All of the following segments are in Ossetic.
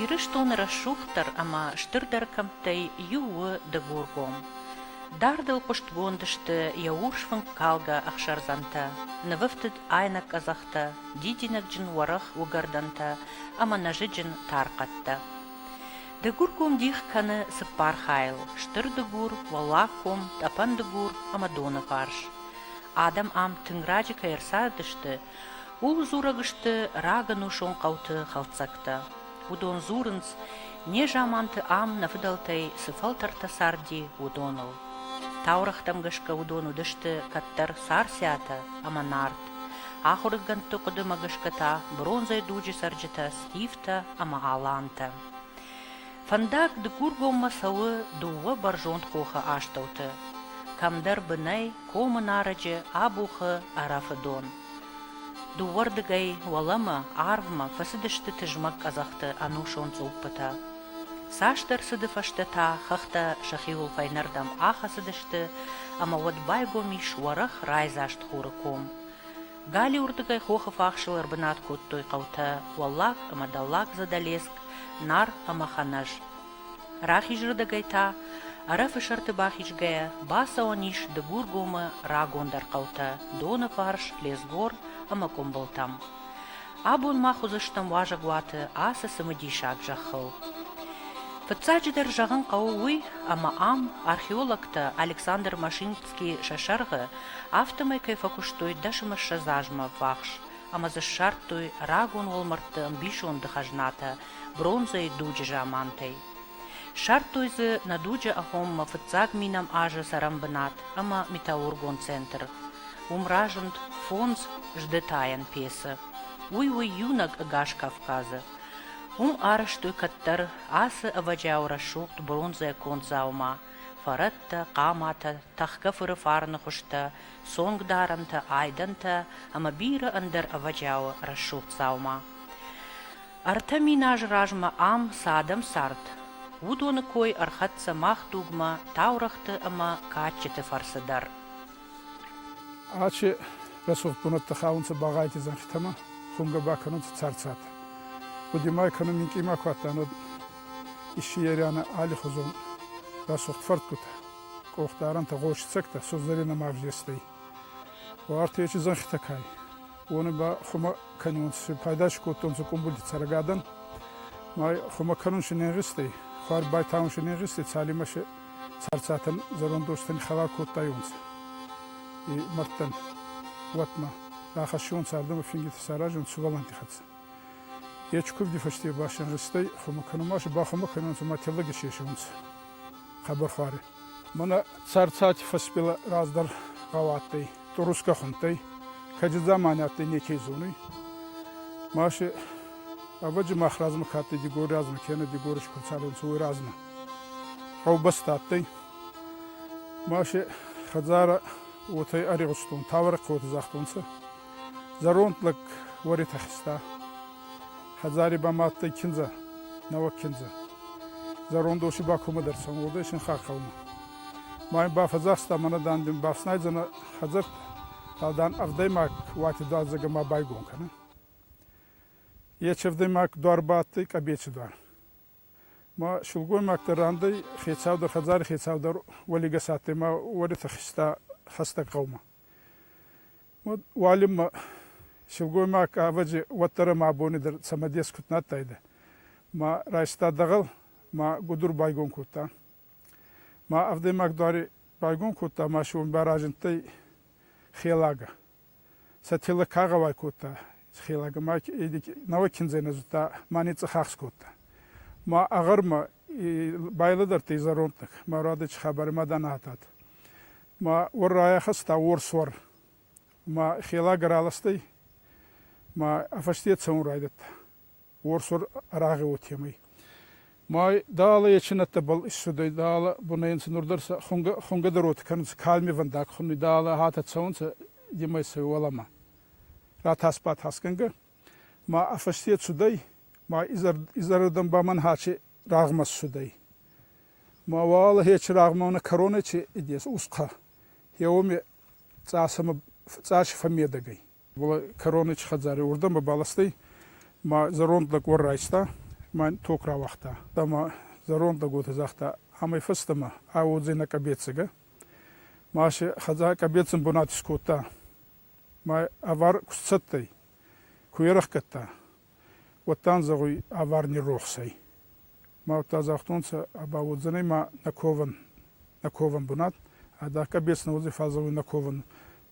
Ирыстоны рӕсугъддӕр ӕмӕ стырдӕр кӕмттӕй иу у Дыгургом. Дардыл хъуыстгонд сты йӕ урс фынккалгӕ ӕхсӕрдзӕнтӕ, нывӕфтыд айнӕг къӕдзӕхтӕ, дидинӕгджын уӕрӕх уыгӕрдӕнтӕ ӕмӕ нӕзыджын тархъӕдтӕ. Дыгурком дих кӕны цыппар хайыл: Стыр Дыгур, Уӕллагком, Тъӕпӕн Дыгур ӕмӕ Доныварс. Адӕм ам тынг раджы кӕй ӕрцардысты, ууыл дзурӕг сты рагӕнусон хъӕуты хӕлддзӕгтӕ. Уыдон дзурынц, незаманты ам нӕ фыдӕлтӕй цы фӕлтӕртӕ царди, уыдоныл. Таурӕгътӕм гӕсгӕ уыдон уыдысты кӕддӕр Царциатӕ ӕмӕ Нарт. Ахуыргӕндты хъуыдымӕ гӕсгӕ та бронзӕйы дуджы цӕрджытӕ Стивтӕ ӕмӕ Алантӕ. Фӕндаг дыккургоммӕ цӕуы дыууӕ бӕрзонд хохы астӕуты, кӕмдӕр бынӕй комы нарӕджы абухы ӕрӕфы дон. Дыууӕрдыгӕй уӕлӕмӕ арвмӕ фӕцыдысты тызмӕг къӕдзӕхты ӕнусон цъуппытӕ. Цасдӕр цыды фӕстӕ та хӕхтӕ сӕхиуыл фӕйнӕрдӕм ахӕцыдысты, ӕмӕ уӕд байгом ис уӕрӕх райдзаст хуры ком. Галиуырдыгӕй хохы фахсыл ӕрбынат кодтой хъӕутӕ Уӕллаг ӕмӕ Дӕллаг Задӕлеск, Нар ӕмӕ Ханӕз. Рахизырдыгӕй та, Ӕрӕфы сӕрты бахизгӕйӕ, бацӕуӕн ис Дыгургомы рагондӕр хъӕутӕ Доны фарс, Лесгор ӕмӕ Къуымбылтӕм. Абон мах уыдзыстӕм уазӕгуаты ацы цымыдисаг зӕххыл. Фыццаджыдӕр зӕгъын хъӕуы уый, ӕмӕ ам археологтӕ Александр Машинкин сӕ сӕргъы, афтӕмӕй кӕй фӕкуыстой дӕсымыссӕдз азмӕ ӕввахс ӕмӕ дзы ссардтой рагон уӕлмӕрдты ӕмбисонды хӕзнатӕ бронзӕйы дуджы замантӕй. Ссардтой дзы нӕ дуджы агъоммӕ фыццаг минӕм азы цӕрӕнбынат ӕмӕ металлургон центр. Уым разынд фондз сдытайӕн пецы. Уый у иунӕг ӕгас Кавказы. Уым арӕзтой кӕддӕр ацы ӕвӕджиауы рӕсугъд бронзӕйӕ конд дзаума, фӕрӕттӕ, хъаматӕ, тӕхгӕ фыры фарны хуызтӕ, цонгдарӕнтӕ, айдӕнтӕ ӕмӕ бирӕ ӕндӕр ӕвӕджиауы рӕсугъд дзаума. Ӕртӕ мин азы размӕ ам цы адӕм цард, уыдоны кой ӕрхӕццӕ мах дугмӕ таурӕгъты ӕмӕ кадджыты фӕрцы дӕр. Ачи рӕсугъд бунӕттӕ хаунцӕ Багъайти зӕнхитӕмӕ, хунгӕ ба кӕнунцӕ царцат. Гъуди ма кӕнун минкъий ма ку адтан, уӕд исси Ериана аллихузон рӕсугъд фӕрдгутӕ, къохдарӕнтӕ гъосицӕгтӕ сузӕренӕмӕ ӕвзестӕй. Уартечи зӕнхитӕ кӕй, уони ба хумӕ кӕнунци пайда кодтонцӕ къумбулди цӕргадӕн. Ма хумӕ кӕнун си не гъистӕй, хуар байтаун си не гъистӕй, цалинмӕ се царцатӕн зӕрондостӕн хӕлар кодтайонцӕ и мӕрдтӕн, уотмӕ. Рахӕссион цардӕмӕ фингити саразун сувӕллӕнтти хӕццӕ. Е кувди фӕсте басӕнрӕстӕй хумӕ кӕнун ма си бахумӕ кӕнунцӕ ма теллӕги сесунцӕ хъӕбӕрхуарӕ. Мӕнӕ царцати фӕсбелӕ раздӕр гъӕуа адтӕй турусгӕ хундтӕй, кӕди дзамани адтӕй неке зонуй. Ма си ӕвӕджи мах размӕ ка адтӕй Дигори размӕ, кенӕ Дигори ку цардӕнцӕ, уой размӕ. Гъӕубӕстӕ адтӕй. Ма си хӕдзарӕ уотӕй ӕригъустон, тавӕрӕг хъӕутӕ загътонцӕ. Зӕронд лӕг уӕритӕхста. Хӕдзари ба ма адтӕй киндзӕ, нӕуӕг киндзӕ. Зӕронд ос ба кумӕ дӕр цӕун, уодӕй синхаг хъӕумӕ. Ма ин бафӕдзаста мӕнӕ, дан, дин бафснайдзӕнӕ хӕдзӕрт, фал, дан, ӕвдӕймаг уати дуардзагӕ ма байгон кӕнӕ. Е чердӕймаг дуар ба адтӕй къӕбеци дуар. Ма силгоймӕгтӕ рандӕй хецаудӕр хӕдзари хецаудӕр уӕлигӕс адтӕй ма уӕрӕтӕ хизта хӕстӕг гъӕумӕ. Уӕд уалинмӕ силгоймаг ӕвӕджи уӕддӕр ӕма абони дӕр цӕмӕдес куд нӕ адтайдӕ. Ма райста дӕгъӕл ма гудур байгон кодта. Ма ӕвдӕймаг дуари байгон кодта ма си уон ба разиндтӕй хелагӕ. Сӕ телӕ ка гъӕуай кодта, хелӕг, ӕма нӕуӕг киндзӕй нӕ зудта ма ницъцъӕхахс кодта. Ма ӕгӕрмӕ байлӕдӕрдтӕй зӕрондтӕг, ма радӕчи хабарӕ ма дӕ нӕ адтад. Ма уӕр райахӕста уорсуар, ма хелӕг ӕраластӕй, ма ӕ фӕсте цӕун райдӕдта. уорсур арагъи уотемӕй. Май далӕ ечинӕттӕбӕл иссудӕй, далӕ бунӕй нцӕ нур дӕр сӕ хунгӕдӕр уотӕ кӕнунцӕ, калмивӕндаг хунуй, далӕ хатӕ цӕунцӕ демӕй сӕ уӕлӕмӕ. Ратасбатасгӕнгӕ ма ӕ фӕсте цудӕй, ма изӕрдӕн ба Мӕнхачи рагъмӕ ссудӕй. Ма уӕлахечи рагъмӕ нӕ кӕронӕ чи идес усхъа, е уоми цъасӕмӕ цъаси фӕммедӕг ӕй. Была Коронич хӕдзари уордӕм бабӕлстӕй ма зӕронд лӕг уӕр райста ма ток рауагъта. Ӕма зӕронд лӕг уотӕ загъта, амӕй фӕстӕмӕ ӕ уодзӕй нӕ къӕбецигӕ. Ма се хӕдзар къӕбецин бунат искодта ма ӕвар куст цӕттӕй, ку ерӕхгӕдта. уӕдта ан зӕгъуй, Аварни рохс ӕй. Ма уӕдта загътонцӕ, Ба уодзӕнӕй ма нӕ ковӕн, нӕ ковӕн бунат, ӕдакӕ бес нӕ уодзӕй, фал зӕгъуй нӕ ковӕн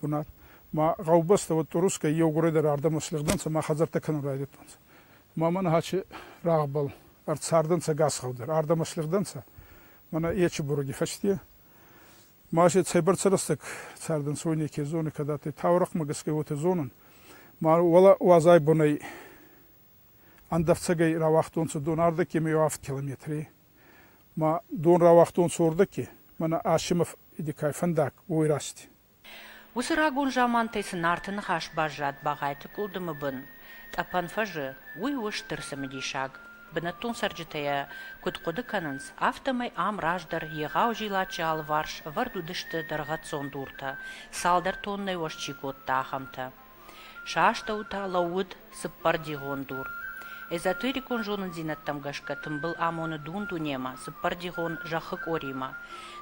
бунат. Ма гъӕубӕстӕ уӕд турускӕй еу горӕдӕрӕ ӕрдӕмӕ слигъдӕнцӕ ма хӕдзӕрттӕ кӕнун райдӕдтонцӕ. Ма мӕнӕ аче рагъбӕл ӕрцардӕнцӕ гасхъӕу дӕр, ӕрдӕмӕ слигъдӕнцӕ. Мӕнӕ ечи буруги фӕсте Ма си цӕйбӕрцӕ рӕстӕг цардӕнцой неке зони, кӕд адтӕй таурӕхъмӕ гӕсгӕ, уотӕ зонун. Ма уӕлӕ уӕзай бунӕй ӕндӕфцӕгӕй рауагътонцӕ дон ӕрдӕгкемӕ еу авд километри. Ма дон рауагътонцӕ уордӕги, мӕнӕ Асимов Идикай фӕндаг, уой рӕзти. Уыцы рагон замантӕй цы Нарты ныхас баззад Багъайты къуылдымы бын, Тъӕпӕн фӕзы, уый у стыр цымыдисаг. Бынӕттон цӕрджытӕ йӕ куыд хъуыды кӕнынц, афтӕмӕй ам раздӕр егъау зилаччы алыварс ӕвӕрд уыдысты дӕргъӕццон дуртӕ, цалдӕр тоннӕйы уӕз чи кодта, ахӕмтӕ. Сӕ астӕу та лӕууыд цыппӕрдигъон дур. Эзотерикон зонындзинӕдтӕм гӕсгӕ тымбыл амоны дун-дунемӕ, цыппӕрдигъон зӕххы къоримӕ.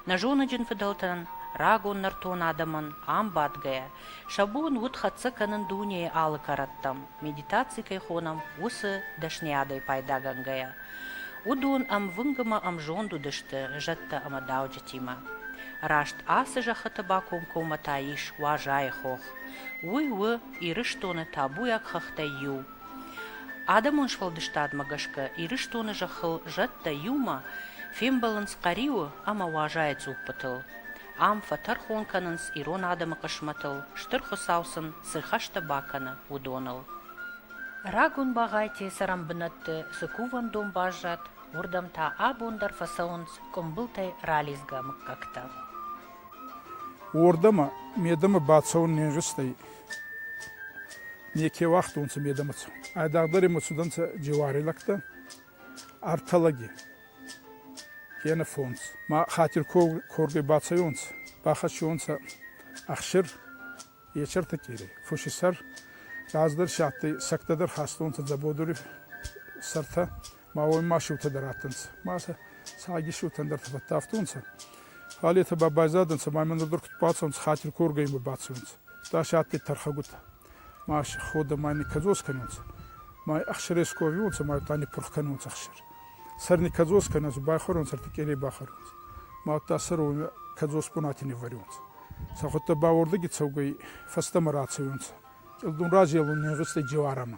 Нӕзоныджын фыдӕлтӕн, рагон нӕртон адӕмӕн ам бадгӕйӕ, Сӕ бон уыд хӕццӕ кӕнын дунейы алы кӕрӕттӕм, медитаци кӕй хонӕм, уыцы, дӕсныйадӕй пайдагӕнгӕйӕ. Уыдон ӕмвынг ӕмӕ ӕмзонд уыдысты зӕдтӕ ӕмӕ дауджытимӕ. Раст ацы зӕххыты бакомкоммӕ та ис Уазайы хох. Уый у Ирыстоны табуйаг хӕхтӕй иу. Адӕмон сфӕлдыстадмӕ гӕсгӕ Ирыстоны зӕххыл зӕдтӕ иумӕ фембӕлынц Хъӕриуы ӕмӕ Уазайы цъуппытыл. ам фӕтӕрхон кӕнынц ирон адӕмы хъысмӕтыл, Стыр Хуыцау сын цы рхӕстӕ бакӕны, уыдоныл. Рагон Багъайти цӕрӕнбынӕтты цы кувӕндон баззад, уырдӕм та абон дӕр фӕцӕуынц къуымбылтӕй ралидзгӕ мыггӕгтӕ. Уордӕмӕ медӕмӕ бацӕун не нзустӕй. Неке уагътонцӕ медӕмӕ. Айдагъдӕр имӕ цудӕнцӕ джеуари лӕгтӕ, ӕртӕ лӕги. Кенӕ фондз. Ма хатир коргӕй бацӕйонцӕ, бахӕссионцӕ ӕхсир Ечертыкъири. Фуси сӕр раздӕр си адтӕй, сӕгтӕ дӕр хастонцӕ дзӕбодури сӕртӕ, ма уой ма сиутӕ дӕр адтӕнцӕ. Ма сӕ цаги сиутӕн дӕр фӕффӕдтавтонцӕ. Фал етӕ ба байзадӕнцӕ, ма имӕ нур дӕр куд бацӕунцӕ, хатир коргӕй имӕ бацӕунцӕ. Дӕс адтӕй тӕрхӕгутӕ. Маси ходӕ ма ни кӕдзос кӕнунцӕ. Ма ӕхсӕрес ку ӕвиуонцӕ, ма уӕдта ниппурх кӕнунцӕ ӕхсӕр. Сӕр ни кӕдзос кӕнунцӕ, байхуӕрунцӕ, ӕртикъелей бахӕрунцӕ. Ма уӕдта сӕр уомӕ кӕдзос бунати ниввӕрунцӕ. Сӕ худтӕ ба уордӕги цӕугӕй фӕстӕмӕ рацӕуунцӕ. Кълдун разелун не гъицтӕй джеуӕрамӕ.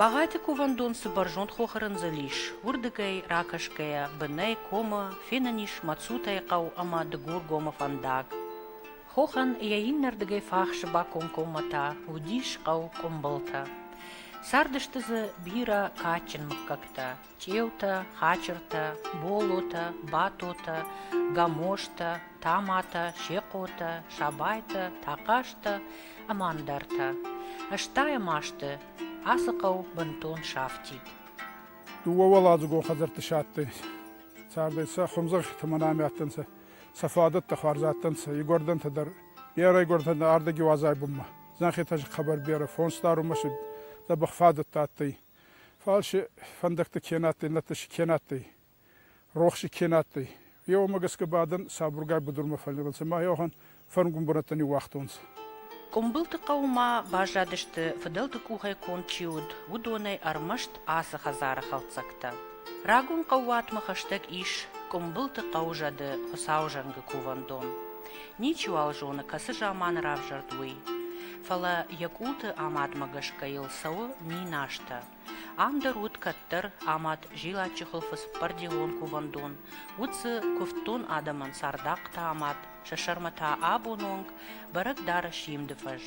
Багъайты кувӕндон цы бӕрзонд хохы рындзыл ис, уырдыгӕй ракӕсгӕйӕ бынӕй комы фенӕн ис Мацутайы хъӕу ӕмӕ Дыгургомы фӕндаг. Хохӕн йӕ иннӕрдыгӕй фахсы бакомкоммӕ та уыдис хъӕу Къуымбылтӕ. Цардысты дзы бирӕ кадджын мыггӕгтӕ. Чъеутӕ, хачыртӕ, болотӕ, батотӕ, гамозтӕ, томатӕ, сехъотӕ, сабайтӕ, тахъазтӕ ӕмӕ ӕндӕртӕ. Ӕстайӕм азты ацы хъӕу бынтон сафтид. Дыууӕуӕладзыгон хӕдзӕртты сӕттой. Цардӕй сӕ хуымзӕххитӕ мӕн ами адтӕнцӕ. Сӕ фадӕттӕ хуарз адтӕнцӕ игуӕрдӕнтӕ дӕр. Берӕ игуӕрдӕнтӕ нӕ ӕрдӕги уӕзӕй бунмӕ. Зӕнхетӕ хъӕбӕр берӕ, фондз дарунмӕ си дзӕбӕх фадӕттӕ адтӕй. Фал си фӕндӕгти ке адтӕй, нӕдта си ке адтӕй, рохси ке адтӕй, е уомӕ гӕсгӕ ба адӕн сабургай будурмӕ фӕллигъунцӕ ма еуӕхӕн фӕрнгун бунӕттӕ ниууагътонцӕ. Къумбылты хъӕумӕ баззадысты, фыдӕлты къухӕй конд чи уыд, уыдонӕй ӕрмӕст ацы хӕдзары хӕлддзӕгтӕ. Рагон хъӕууатмӕ хӕстӕг ис Къуымбылты хъӕу зӕды Хуыцауы зӕнгы кувӕндон. Ничиуал зоны, кӕцы заманы равзӕрд, уый. Фӕлӕ йӕ къулты амадмӕ гӕсгӕ йыл цӕуы миназтӕ. Ам дӕр уыд кӕддӕр амад зилаччы хуылфы цыппӕрдилон кувӕндон, уыд дзы куывддон адӕмӕн цардахъхътӕ амад, сӕ сӕрмӕ та абоны онг бӕрӕг дары симды фӕз.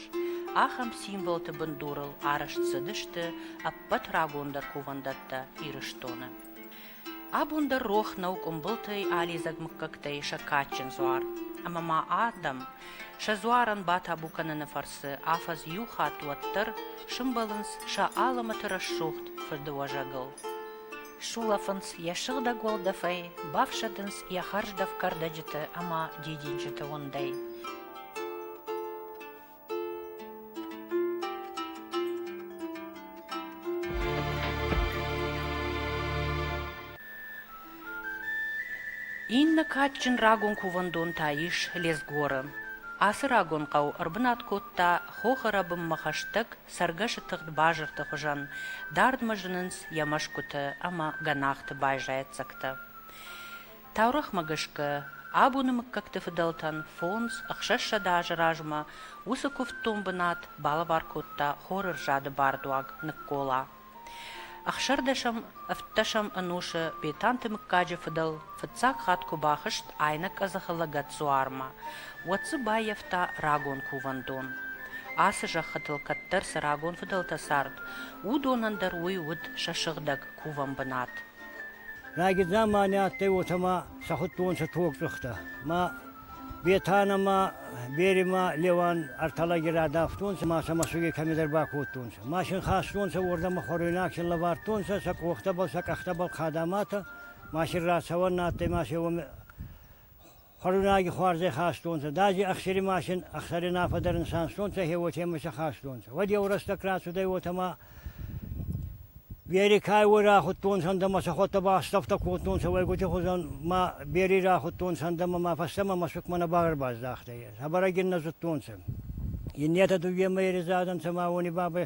Ахӕм символты бындурыл арӕзт цыдысты ӕппӕт рагондӕр кувӕндӕттӕ Ирыстоны. Абон дӕр рох нӕу къуымбылтӕй алидзӕг мыггӕгтӕй сӕ кадджын дзуар. Ӕмӕ ма адӕм сӕ дзуарӕн батабу кӕныны фӕрцы афӕдз иу хатт уӕддӕр сымбӕлынц сӕ алымӕты рӕсугъд фыдыуӕзӕгыл. Сулӕфынц йӕ сыгъдӕг уӕлдӕфӕй, бафсӕдынц йӕ хӕрздӕф кӕрдӕджыты ӕмӕ дидинджыты уындӕй. Иннӕ кадджын рагон кувӕндон та ис Лезгоры. Ацы рагон хъӕу ӕрбынат кодта хохы рӕбынмӕ хӕстӕг цӕргӕсы тыгъд базырты хуызӕн, дардмӕ зынынц йӕ мӕсгуыты ӕмӕ гӕнахты байзайӕццӕгтӕ. Таурӕгъмӕ гӕсгӕ, абоны мыггӕгты фыдӕлтӕн фондз, ӕхсӕзсӕдӕ азы размӕ уыцы куывддон бынат балӕвар кодта хорырзады бардуаг Ныккола. Ӕхсӕрдӕсӕм, ӕвддӕсӕм ӕнусы Бетанты мыггаджы фыдӕл фыццаг хатт куы бахызт Айнӕкъӕдзыхы лӕгӕтдзуармӕ, уӕд дзы баййӕфта рагон кувӕндон. Ацы зӕххытыл кӕддӕр цы рагон фыдӕлтӕ цард, уыдонӕн дӕр уый уыд сӕ сыгъдӕг кувӕн бынат. Райгидзӕн ма не адтӕй, уотӕ ма сӕ худтонцӕ тогцъухтӕ. Ма Бетана ма Бери ма Леуан ӕртӕ лӕги радавтонцӕ ма сӕ мӕсуги кӕмедӕр бакодтонцӕ. Машин хастонцӕ, уордӕмӕ хуӕруйнагсин лӕвардтонцӕ, сӕ къохтӕбӕл, сӕ къӕхтӕбӕл хъадаматӕ. Машин рацӕуӕн нӕ адтӕй ма се уоми Хуӕрзраги хуарзӕй хастонцӕ, дади ӕхсири машин ӕхсӕринаффӕ дӕр нисанстонцӕ, хе уотемӕйсӕ хастонцӕ. Уӕд еу рӕстӕг рацудӕй уотӕмӕ Берикай уой рахудтонцӕ ӕндӕмӕ, сӕ хуӕдтӕ ба ӕстӕфтӕ кодтонцӕ уӕйгути хузӕн ма Бери рахудтонцӕ ӕндӕмӕ ма фӕстӕмӕ мӕсукмӕ нӕ багӕрбаздахтӕй. Хабарӕг ин нӕ зудтонцӕ. Иннетӕ дууемӕ еридзадӕнцӕ ма уони бабӕй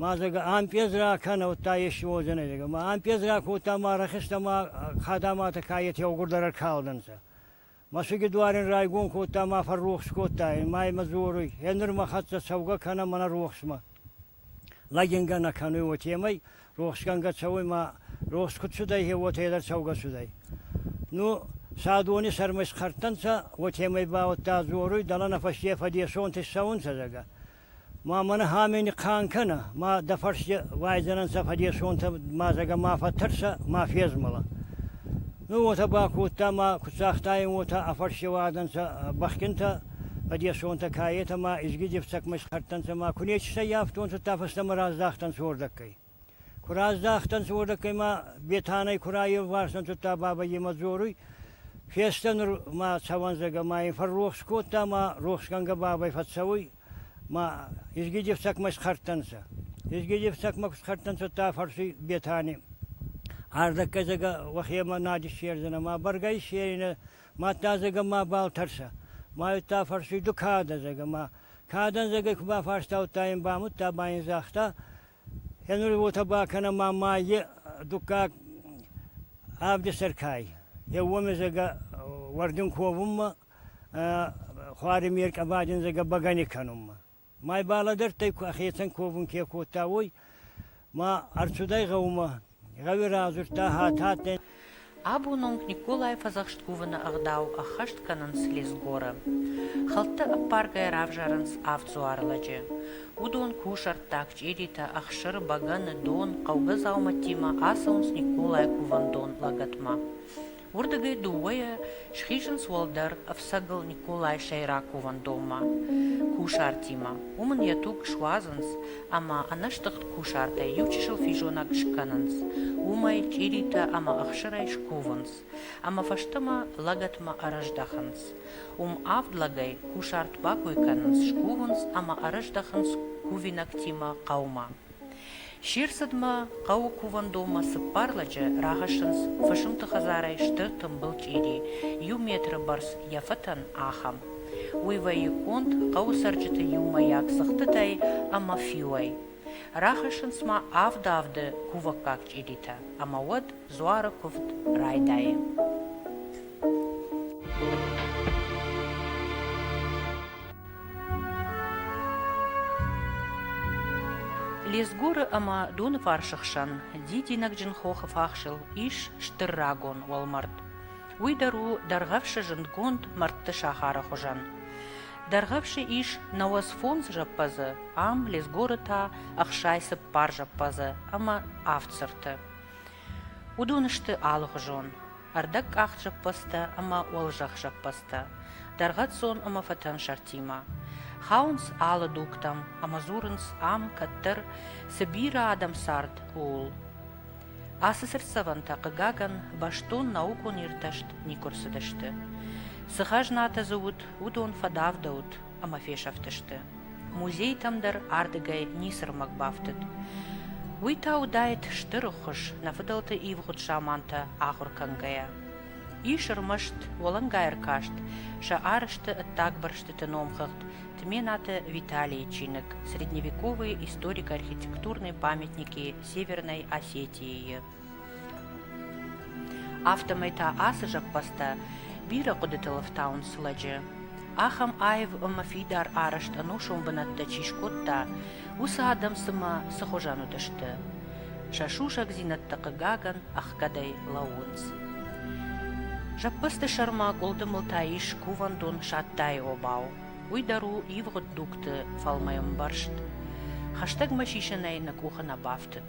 Ма зӕгӕ, ӕмпъез ракӕнӕуттӕ ести уодзӕнӕй, зӕгӕ. Ма ӕмпъез ракодта ма рахизта ма хадӕматӕ ка етти еугурдӕр ӕркалдӕнцӕ. Мӕсуги дуарин райгон кодта ма фӕррохс кодта ӕй, ма имӕ дзоруй, «Е нур мӕ хӕццӕ цӕугӕ кӕнӕ мӕнӕ рохсмӕ!» Лӕгингӕ нӕ кӕнуй уотемӕй, рохсгӕнгӕ цӕуй ма рохс куд цудӕй, е уотӕ дӕр цӕугӕ цудӕй. Ну, садони сӕрмӕ исхӕрдтӕнцӕ, уотемӕй ба уӕдта дзоруй, «Дӕлӕ нӕ фӕсте фӕдесонти ссӕунцӕ, зӕгӕ!» Ма мӕнӕ Хамени кан кӕнӕ, ма дӕ фӕрсте уайдзӕнӕнцӕ фӕдесонтӕ ма зӕгӕ ма фӕттӕрсӕ, ма фезмӕлӕ. Ну, уотӕ бакодта ма куд цагътайин, уотӕ ӕ фӕрсте уадӕнцӕ бӕхгинтӕ, фӕдесонтӕ каетӕ ма изги дефцӕгмӕ исхӕрдтӕнцӕ ма ку нечи сӕййафтонцӕ, та фӕстӕмӕ раздахтӕнцӕ уордӕггай. Куы раздӕхтӕнцӕ, уордӕккӕй ма Бетанӕй ку раеуварсун кодта баба йемӕ дзоруй, фестӕ нур ма цӕуӕндзӕгӕ ма ин фӕррохс кодта ма рохсгӕнгӕ бабӕй фӕццӕуй ма изги дефцӕгмӕ исхӕрдтӕнцӕ. Изги дефцӕгмӕ ку схӕрдтӕнцӕ, уӕдта фӕрсуй Бетани. Ардӕггӕй зӕгӕ уӕхемӕ надь иссердзӕнӕ ма бӕргӕ иссеринӕ, мадта зӕгӕ мабал тӕрсӕ. Ма уӕдта фӕрсуй, ду кадӕ, зӕгӕ, ма кадӕн зӕгӕй ку бафарстаудта ин, бамудта ма ин загъта, Енури уотӕ бакӕнӕн ма ма е дуккаг авди сӕр кӕй. Еу уомезӕгӕ уӕрдун ковунмӕ, хуари ме ркъӕбаджиндзагӕ бӕгӕни кӕнунмӕ. Ма йбӕ лӕдӕрдтӕй, ӕхецӕн ковун ке кодта, уой. Ма ӕрцудӕй гъӕумӕ Абон онг Николайы фӕдзӕхст кувыны ӕгъдау ӕххӕст кӕнынц Лесгоры. Хӕлдты ӕппаргӕй равзарынц авд дзуары лӕджы. Уыдон кусӕрттаг, чъиритӕ, ӕхсыр, бӕгӕны, дон, хъӕугӕ дзаумӕттимӕ ацӕуынц Николайы кувӕндон лӕгӕтмӕ. Уырдыгӕй дыууӕйӕ схизынц уӕлдӕр ӕфцӕгыл Николайы сӕйраковӕндонмӕ, кусартимӕ. Уым ын йӕ туг суадзынц ӕмӕ ӕнӕстыгъд кусартӕй иучысыл физонӕг скӕнынц, уымӕй чъиритӕ ӕмӕ ӕхсырӕй скувынц ӕмӕ фӕстӕмӕ лӕгӕтмӕ ӕрӕздӕхынц. Уым авд лӕгӕй кусарт бакой кӕнынц, скувынц ӕмӕ ӕрӕздӕхынц кувинӕгтимӕ хъӕумӕ. Се рцыдмӕ хъӕуы кувӕндонмӕ цыппар лӕджы рахӕссынц фысымты хӕдзарӕй стыр тымбыл чъири, иу метры бӕрц йӕ фӕтӕн, ахӕм. Уый вӕййы конд хъӕуы цӕрджыты иумӕйаг цыхтытӕй ӕмӕ фиуӕй. Рахӕссынц ма авд-авды кувӕггаг чъиритӕ, ӕмӕ уӕд дзуары куывд райдайы. Лезгоры ӕмӕ Доныфарсы хсӕн дидинӕгджын хохы фахсыл ис стыр рагон уӕлмӕрд. Уый дӕр у дӕргъӕвсы зындгонд мӕрдты сахары хуызӕн. Дӕргъӕвсы ис науӕдз фондз зӕппӕдзы, ам Лезгоры та ӕхсай цыппар зӕппӕдзы ӕмӕ авд цырты. Уыдон сты алыгъуызон: ӕрдӕгкъахт зӕппӕдзтӕ ӕмӕ уӕлзӕхх зӕппӕдзтӕ, дӕргъӕццон ӕмӕ фӕтӕн сӕртимӕ. Хауынц алы дугтӕм ӕмӕ дзурынц ам кӕддӕр цы бирӕ адӕм цард, ууыл. Ацы цыртдзӕвӕнтӕ, хъыгагӕн, бӕстон наукон иртӕст никуы рцыдысты. Цы хӕзнатӕ дзы уыд, уыдон фӕдавдӕуыд, ӕмӕ фесӕфтысты. Музейтӕм дӕр ардыгӕй ницы рмӕг бафтыд. Уый та уыдаид стыр ӕххуыс нӕ фыдӕлты ивгъуыд замантӕ ахуыр кӕнгӕйӕ. Ис ӕрмӕст уӕлӕнгай-ӕркаст сӕ арызты ӕддаг бырстыты номхыгъд Тменаты Виталийы чиныг «Средневековые историко-архитектурные памятники Северной Осетии-йы». Афтӕмӕй та ацы зӕппӕдзтӕ бирӕ хъуыдытыл ӕфтауынц лӕджы. Ахӕм аив ӕмӕ фидар арӕзт ӕнусон бынӕттӕ чи скодта, уыцы адӕм цымӕ цы хуызӕн уыдысты? Сӕ сусӕгдзинӕдтӕ, хъыгагӕн, ӕхгӕдӕй лӕууынц. Зӕппӕдзты сӕрмӕ къуылдымыл та ис кувӕндон Саттайы обау. Уый дӕр у ивгъуыд дугты фӕлмӕн ӕмбӕрзт. Хӕстӕгмӕ сисынӕй нӕ къухы нӕ бафтыд.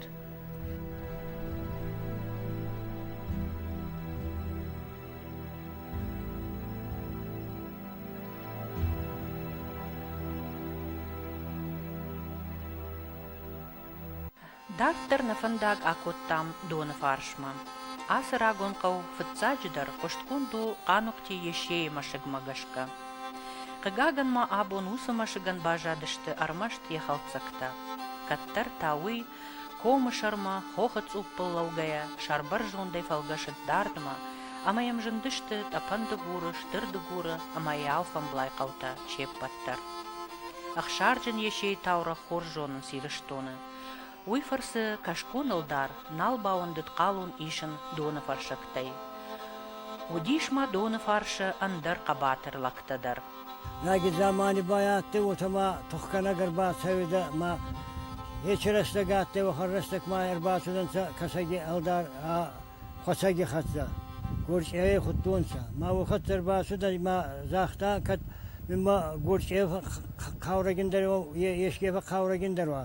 Дарддӕр нӕ фӕндаг акодтам доны фарсмӕ. Ацы рагон хъӕу фыццаджыдӕр хъуыстгонд у Хъанухъти Есейы мӕсыгмӕ гӕсгӕ. Хъыгагӕн ма абон уыцы мӕсыгӕн баззадысты ӕрмӕст йӕ хӕлддзӕгтӕ. Кӕддӕр та уый Комы сӕрмӕ, хохы цъуппыл лӕугӕйӕ, сӕрбӕрзондӕй фӕлгӕсыд дардмӕ, ӕмӕ йӕм зындысты Тъӕпӕн-Дыгуры, Стыр-Дыгуры ӕмӕ йӕ алфӕмблай хъӕутӕ се ппӕт дӕр. Ӕхсарджын Есейы таурӕгъ хорз зонынц Ирыстоны. Уый фӕрцы кӕсгон-ӕлдар нал бауӕндыд хъалон исын доны фӕрсӕгтӕй. Уыдис ма доны фарсы ӕндӕр хъӕбатыр лӕгтӕ дӕр. Лаги замани ба адтӕй, уотӕ ма тухгӕнӕг ӕрбацӕуидӕ ма ечи рӕстӕг адтӕй, уӕхӕн рӕстӕг ма ӕрбацудӕнцӕ Кӕсӕги ӕлдар ӕ хуӕцӕги хӕццӕ. Горчъевей худтонцӕ. Ма уохӕццӕ ӕрбацудӕй ма загъта, кӕд мин ма горчъев хъаурӕгиндӕр уа, еске фӕхъаурӕгиндӕр уа.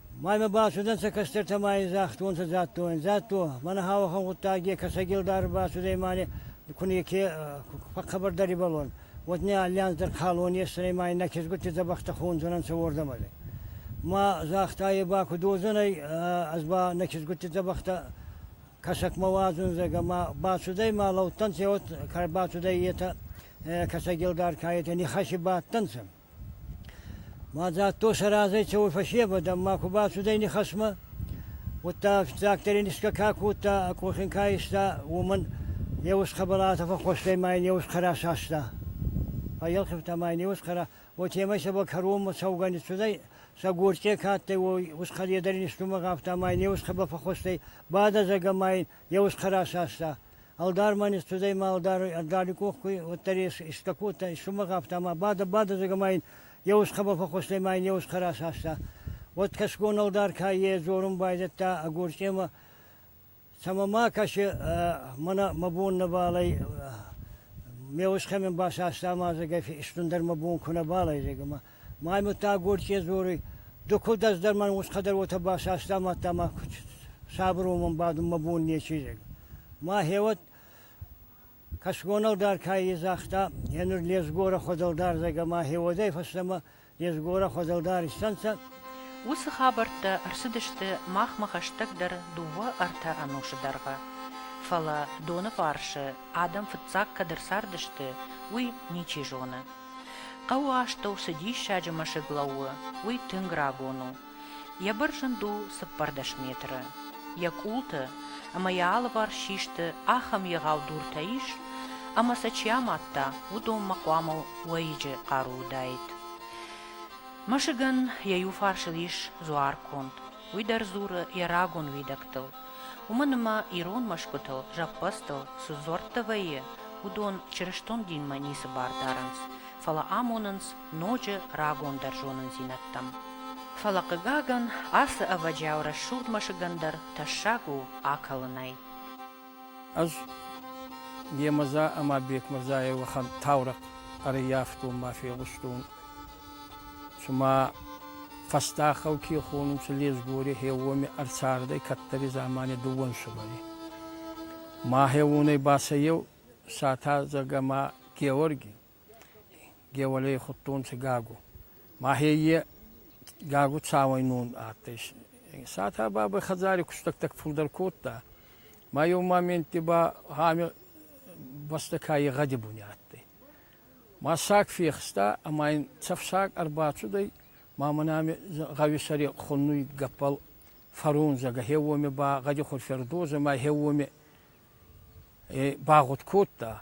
Маймӕ бацудӕнцӕ кӕстӕртӕ ма ин загътонцӕ Дзаттойӕн. Дзатто, мӕнӕ ауӕхӕн гъуддаги Кӕсӕги ӕлдари бацудӕй ма не ку неке фӕххабардар ибӕлон, уӕд не аллианздӕр калон есдзӕнӕй ма иннӕ кезгутти дзӕбӕхтӕ хондзӕнӕнцӕ уордӕмӕ. Ма загъта е ба ку додзӕнӕй, ӕз ба нӕ кезгутти дзӕбӕхтӕ Кӕсӕгмӕ уадзундзӕг, ӕма бацудӕй ма лӕудтӕнцӕ, уӕд ка бацудӕй, етӕ Кӕсӕги ӕлдар ка етӕ нихӕси бадтӕнцӕ. Мадзӕлттон сӕ разӕй цӕуй фӕсевӕдӕн ма ку бацудӕй нихӕсмӕ, уӕдта фиццагдӕр ин исгӕ ка кодта ӕ къохин ка иста, уомӕн еу ӕсхӕбӕлатӕ фӕххуӕстӕй ма ин еу ӕсхӕрӕ саста. Фӕййелхивта ма ин еу ӕсхӕрӕ, уотемӕй сӕбӕл кӕронмӕ цӕугӕ ниццудӕй, сӕ горцъе ка адтӕй, уой ӕсхӕле дӕр ин истумӕ гъавта ма ин еу ӕсхӕбӕл фӕххуӕстӕй бадӕдзагӕ ма ин Йе устхӕр асаста. Ӕлдар ма не студӕй ма ӕлдар ӕрдали къох куй, уӕддӕр ес, искӕ кодта, исумӕг афтӕ, ма бадӕ, бадӕ, зӕгӕ ма ин йе усхъӕбӕл фӕххустӕй ма ин йе усхъӕр асаста. Уӕд кӕсгон ӕлдар ка е, дзорун байдӕдта ӕ горчъемӕ, цӕмӕ ма кӕси, мӕнӕ мӕ бон нӕбал ӕй, ме усхъӕмӕн басаста ма, зӕгӕ, истундӕр мӕ бон ку нӕбал ӕй, зӕгӕ ма. Маймуттаг Горче дзоруй, Ду кулдӕс дӕр мӕн усхӕ дӕр уотӕ басаста, мадта ма сабуромӕн бадун мӕ бон нечи дӕй. Мӕхеуӕд кӕсгонӕлдар ка загъта, е нур лесгорӕ хуӕдӕлдӕрзӕгӕ мӕхеуодӕй фӕстӕмӕ лесгорӕ хуӕдӕлдар иссӕнцӕ. Уыцы хабӕрттӕ ӕрцыдысты махмӕ хӕстӕгдӕр дыууӕ-ӕртӕ ӕнусы дӕргъы. Фӕлӕ доны фарсы адӕм фыццаг кӕд ӕрцардысты, уый ничи зоны. Хъӕуы астӕу цы диссаджы мӕсыг лӕууы, уый тынг рагон у. Йӕ быр зынд у цыппӕрдӕс метры. Йӕ къулты ӕмӕ йӕ алыварс систы ахӕм егъау дуртӕ ис, ӕмӕ сӕ чи амадта, уыдонмӕ хъуамӕ уӕйыджы хъару уыдаид. Мӕсыгӕн йӕ иу фарсыл ис дзуар конд, Уый дӕр дзуры йӕ рагон уидӕгтыл. Уымӕн ӕмӕ ирон мӕсгуытыл, зӕппӕдзтыл цы дзуӕрттӕ вӕййы, уыдон чырыстон динмӕ ницы бар дарынц, фӕлӕ амонынц ноджы рагондӕр зонындзинӕдтӕм. Фӕлӕ, хъыгагӕн, ацы ӕвӕджиау рӕсугъд мӕсыгӕн дӕр тӕссаг у акӕлынӕй. Ӕз Гемӕза ӕма Бекмӕрзайи уӕхӕн таурӕхъ ӕрййафтон ма фегъустон. Цума фӕстӕхау ке хонун, ци Лесгори хеуоми ӕрцардӕй кӕддӕри дзамани дууӕн сувӕри. Мӕ хеуонӕй ба сӕ еу Сатӕдзӕг ӕма Геуӕрги. Геуӕлей худтонцӕ Гагу. Мӕхе е Гагу цауӕйнон адтӕй. Сатӕ бабӕй хӕдзари кустӕгтӕ фулдӕр кодта. Ма еу моментти ба ами бӕстӕ кайи гъӕди буни адтӕй. Ма саг фехста ӕма ин цӕф саг ӕрбацудӕй, ма мӕн ами гъӕуи сӕри хуннуй гӕппӕл фӕрундзӕг. Хе уоми ба гъӕди хурфӕрдозӕ ма хе уоми багъуд кодта.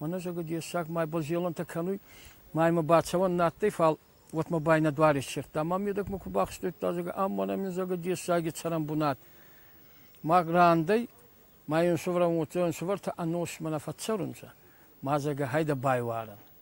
Уонӕ зӕгъгӕ дессаг май бӕлзелӕнтӕ кӕнуй, маймӕ бацӕуӕн нӕ адтӕй, фал уотмӕ ба ин нӕ дуар иссердта. Ма медӕгмӕ ку бахстудта, зӕгъгӕ, ам мӕнӕн мин зӕгъгӕ дессаги цӕрӕн бунат. Ма рандӕй, ма ин суврӕн уотӕ ӕнсувӕртӕ ӕносмӕ нӕ фӕццӕрунцӕ. Ма зӕгъгӕ, хайдӕ байварӕн.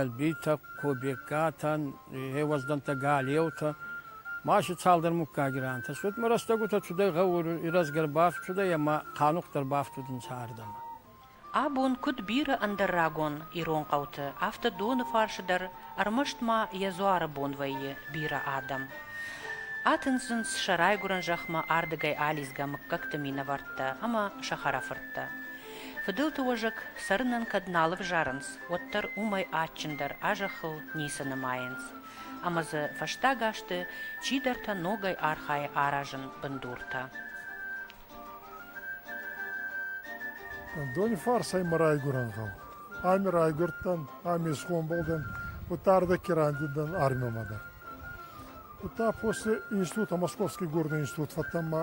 Елбитӕ, Кобегкатӕн еуӕздӕнтӕ, Галеутӕ ма си цалдӕр муггаги рантӕстӕй. Ма рӕстӕгутӕ цудӕй гъӕур ирӕзгӕр бафтудӕй ӕма хъанухъдӕр бафтудӕнцӕ ардӕмӕ. Абон куыд бирӕ ӕндӕр рагон ирон хъӕуты, афтӕ доны фарсы дӕр ӕрмӕст ма йӕ дзуары бон вӕййы бирӕ адӕм. Атындзынц сӕ райгуырӕн зӕхмӕ ардыгӕй алидзгӕ мыггӕгты минӕвӕрттӕ ӕмӕ сӕ хӕрӕфырттӕ. Фыдӕлты уӕзӕг цӕрынӕн кӕд нал ӕвзарынц, уӕддӕр уымӕй адджындӕр а зӕххыл ницы нымайынц, ӕмӕ дзы фӕстаг азты чидӕртӕ ногӕй архайы аразын бындуртӕ. Донифарсӕй мӕ райгурӕн гъӕу. Ами райгурдтӕн, ами исгъомбол дӕн, удта ӕрдӕгки райдид дӕн армиумӕ дӕр. Удта после института, Московский горный институт фӕттӕн мӕ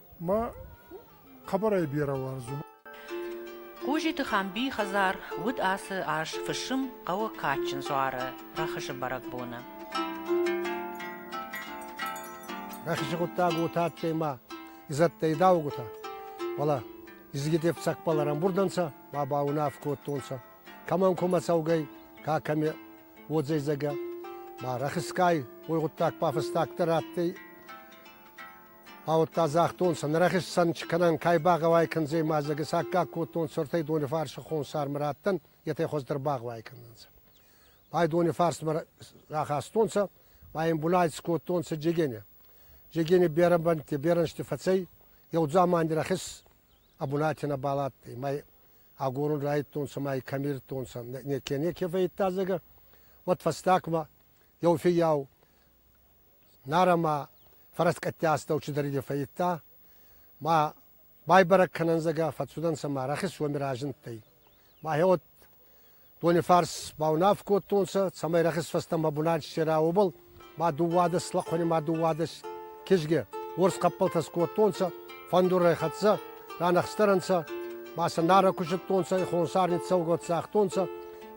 ма хъӕбӕрӕй берӕ уарзун. Хъузиты Хамбийы хӕдзар уыд ацы аз фысым хъӕуы кадджын дзуары рӕхысы бӕрӕгбоны. Рӕхысы хъуыддаг у тадтӕй ма изӕдтӕй даугутӕ. Voilà. Изгитев цӕкпал ӕрӕмбурдӕнцӕ ма ба унаф кодтонцӕ, кӕмӕн кумӕ цӕугӕй, ка кӕме уодзӕйдзагӕ. Ма рӕхискай уой гъуддаг ба фӕстагдӕр адтӕй Ауодта загътонцӕ, нӕ рахецӕн кӕнӕн ка багъӕуай кӕндзӕй ма дзӕгис аккаг кодтонцӕ ӕртӕй Донифарси хонсармӕ раттӕн, етӕ хуӕздӕр багъӕуай кӕнӕнцӕ. Бай Донифарсмӕ рахастонцӕ, ма ин булӕй скодтонцӕ Джегене. Джегене берӕбӕнтти берӕнсти фӕцӕй, еу дзамани рахес ӕ бунати нӕбал адтӕй, ма агорун райдтонцӕ ма кӕмирдтонцӕ, неке-неке фӕййидта зӕгӕ. Уӕд фӕстагмӕ еу фиййау Нарӕмӕ фӕрӕскъӕттӕ астӕу чидӕриде фӕййидта, ма байбӕрӕг кӕнӕн зӕгӕ фӕццудӕнцӕ ма рӕхис уоми разиндтӕй. Мӕхе уод донифарс баунаф кодтонцӕ, цӕмӕй рӕхис фӕстӕмӕ бунат ссера, уобӕл ма дууадӕс лӕхъуӕни ма дууадӕс кизге уорс хъӕппӕлтӕс кодтонцӕ, фӕндурӕй хӕццӕ, ранӕхстӕр ӕнцӕ, ма сӕ нарӕ кусудтонцӕ, хонсар ниццӕугӕ цагътонцӕ,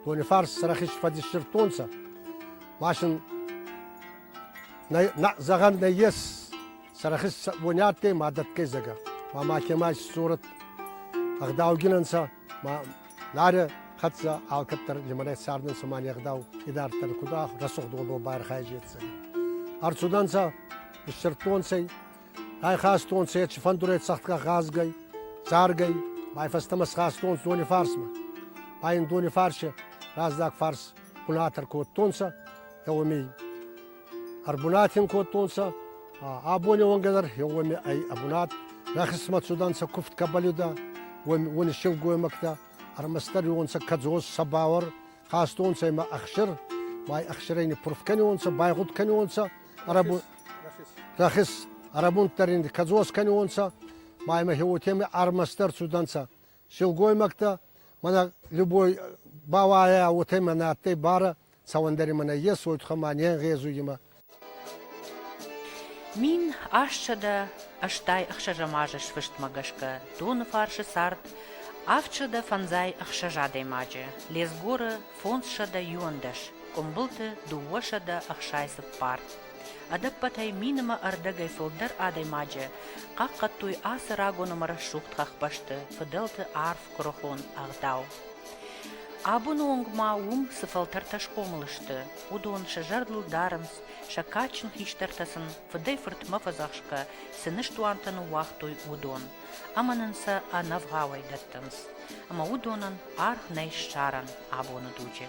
донифарс сӕ рӕхис фӕдиссирдтонцӕ. Машин зӕгъӕн нӕййес, сарахис уони адтӕй ма дӕтгӕй зӕгӕ, ма макемӕ исцорӕт ӕгъдаугинӕнцӕ, ма Нарӕ хӕццӕ алкӕддӕр лимӕнӕй цардӕнцӕ ма ӕгъдау идарддӕр куда рӕсугъдонбол байархайӕж ецӕгӕ. Ӕрцудӕнцӕ, ниссирдтонцӕй, ӕйхастонцӕ еци фӕндурӕй цӕхтгӕ гъазгӕй, царгӕй, ма фӕстӕмӕ схастонцӕ дони фарсмӕ. Ма ин дони фарсе раздзаг фарс кулатор кодтонцӕ, еуеми ӕрбунатин кодтонцӕ, абони уонгӕ дӕр еуеми ӕй ӕбунат. Мӕ хъисмӕт цудӕнцӕ куфт кӕбӕлидӕ, уони силгоймӕгтӕ, ӕрмӕстдӕриуонцӕ кӕдзос, сабауӕр, хастонцӕ имӕ ӕхсир, май ӕхсирӕй ниппурф кӕниуонцӕ, байгъуд кӕниуонцӕ, рӕхис ӕрӕбунддӕр ин кӕдзос кӕниуонцӕ, ма имӕ еуотеми ӕрмӕстдӕр цудӕнцӕ силгоймӕгтӕ, мӕнӕ любой бауайӕ, уотӕ мӕнӕ адтӕй барӕ, цауӕндӕри мӕнӕ есуй тухӕ ма не нгъезуй имӕ. Мин астсӕдӕ ӕстай ӕхсӕзӕмазы сфыстмӕ гӕсгӕ доны фарсы цард авдсӕдӕ фӕндзай ӕхсӕз адӕймаджы, лесгоры фондзсӕдӕ иуӕндӕс, къуымбылты дыууӕсӕдӕ ӕхсай цыппар, Ӕдӕппӕтӕй минимы ӕрдӕгӕй фылдӕр адӕймаджы хъахъхъӕдтой ацы рагон ӕмӕ рӕсугъд хӕхбӕсты, фыдӕлты арф куырыхон ӕгъдау. Абоны онг ма уым цы фӕлтӕртӕ схъомыл сты, уыдон сӕ зӕрдыл дарынц, сӕ кадджын хистӕртӕ сын фыдӕй-фыртмӕ фӕдзӕхсгӕ цы ныстуантӕ ныууагътой, уыдон. ӕмӕ нын сӕ ӕнӕвгъауӕй дӕттынц, ӕмӕ уыдонӕн аргъ нӕй ссарӕн абоны дуджы.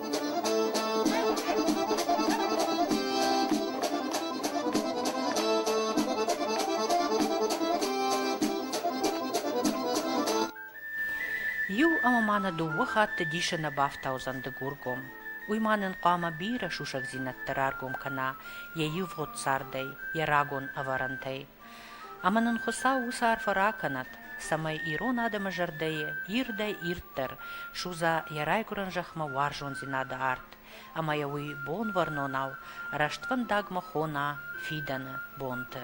Иу ӕмӕ ма нӕ дыууӕ хатты дисы нӕ бафтаудзӕн Дыгургом. Уый ма нын хъуамӕ бирӕ сусӕгдзинӕдтӕ раргом кӕна йӕ ивгъуыд цардӕй, йӕ рагон ӕвӕрӕнтӕй. Ӕмӕ нын Хуыцау уыцы арфӕ ракӕнӕд, цӕмӕй ирон адӕмы зӕрдӕйы ирдӕй-ирддӕр судза йӕ райгуырӕн зӕхмӕ уарзондзинады арт ӕмӕ йӕ уый бонвӕрнонау рӕствӕндагмӕ хона фидӕны бонты.